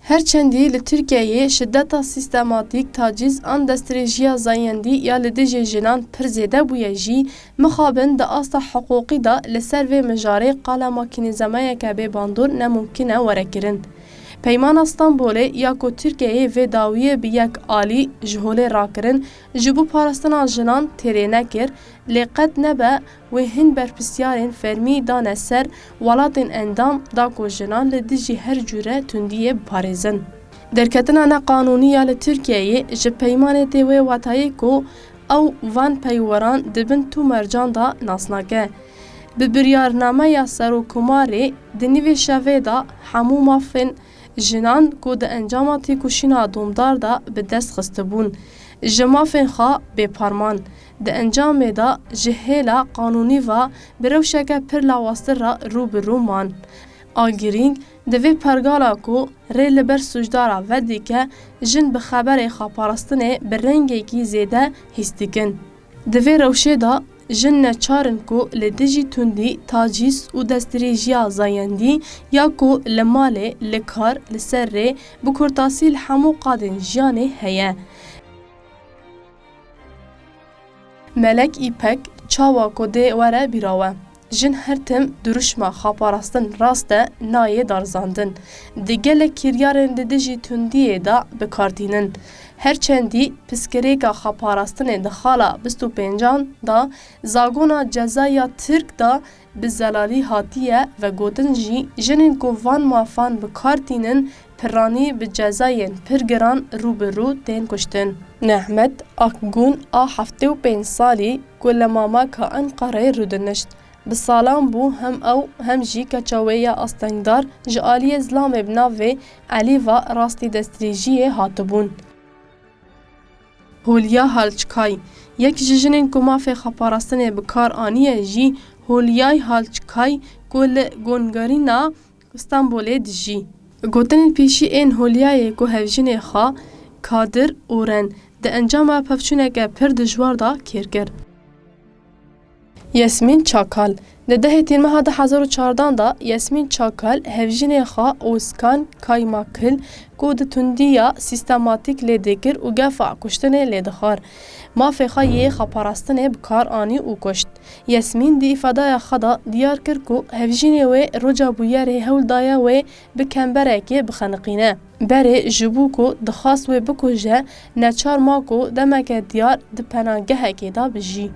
Her çendî li Tirkiyeyê şideta sîstematîk, tacîz an destrêjiya zayendî ya li dijî jinan pir zêde bûye jî, mixabin di asta hiqûqî de li ser vê mijarê qala makînîzemayeke bê bandor ne mumkîn e were kirin. Peymana Stenbolê ya ku Tirkiyeyê vê dawiyê bi yek alî ji holê rakirin ji bo parastina jinan têrê nekir, lê qet nebe wê hin berpirsiyarên fermî dane ser welatên endam da ku jinan li dijî her cure tundiyê biparêzin. Derketina ne qanûnî ya li Tirkiyeyê ji peymanê tê wê watayê ku ew van peyweran di bin tu mercan da nas nake. Bi biryarnameya Serokomarê di nivîşa vê de hemû mafên jinan ku di encama têkoşîna domdar de bi dest xistibûn ji mafên xwe bê parman, di encamê de ji hêla qanûnî ve bi rewşeke pir lawaztir re rû bi rû man. A girîng di vê pergala ku rê li ber sûcdara ve dike, jin bi xeberê xweparastinê bi rengekî zêde hîs dikin. Di vê rewşê de, Jin neçar in ku li dijî tundî, tacîz û destdirêjiya zayendî ya ku li malê, li kar, li ser rê, bi kurtasî li hemû qadên jiyanê heye. Melek Îpek, Çawa ku dê were bîra we, jin her tim dirûşma xaparastin rast e nayê darizandin. Di gelek kiryarên di dijî tundiyê de bi kar tînin. Her çendî piskirêka xeparastinê di xala bîst û pêncan de zagona ceza ya Tirk de bi zelalî hatiye vegotin jî jinên ku van mafan bi kar tînin pirranî bi cezayên pir giran rû bi rû tên kuştin. Nehmet Akgûn a heftê û pênc salî ku li Mamaka Enqereyê rûdinişt, Bi salan bû hem ew hem jî keça wê ya astengdar ji aliyê zilamê bi navê Elîva rastî destdirêjiyê hatibûn. Hulya Halçkay, yek ji jinên ku mafê xeparastinê bi kar aniye jî Hulyay Halçkay ku li Gongarîna Stenbolê dijî. Gotinên pêşî ên Hulyayê ku hevjinê xwe Kadir Oren di encama pevçûneke pir dijwar de kêr kir. Yasmîn Çakal Di dehê Tîr meha du hezar û çardan de Yasmîn Çakal hevjînê xwe Ozkan Kaymakil ku di tundî ya sîstematîk lê dikir û gefa kuştinê lê dixwar, mafê xwe yê xweparastinê bi kar anî û kuşt. Yasmîn di îfadaya xwe de diyar kir ku hevjînê wê roca bûyerê hewl daye wê bi kemberekê bixeniqîne. Berê ji bo ku dixwast wê bikuje neçar ma ku demeke diyar di penagehekê de bijî.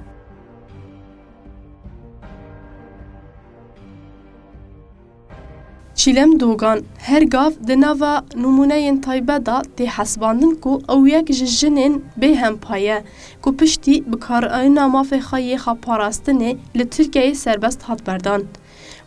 Çîlem Dogan, Her gav di nava nimûneyên taybet de tê hesibandin ku ew yek ji jinên bêhempa ye ku piştî bikaranîna mafê xwe yê xweparastinê li Tirkiyeyê serbest hat berdan.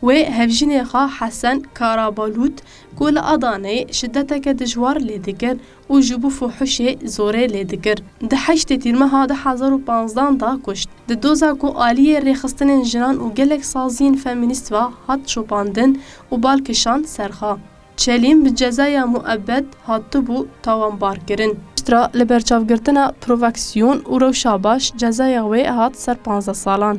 Wê hevjînê xwe Hesen Karabalût ku li Adaneyê şideteke dijwar lê dikir û ji bo fuhişê zorê lê dikir, di heştê Tîrmeha du hezar û panzdan de kuşt. Di doza ku aliyê rêxistinên jinan û gelek saziyên femînîst ve hat çopandin û bal kişand ser xwe. Çelîm bi cezeya muebed hatibû tawanbarkirin. Piştre li ber çavgirtina provaksiyon û rewşa baş cezeya wê hat ser panzdeh salan.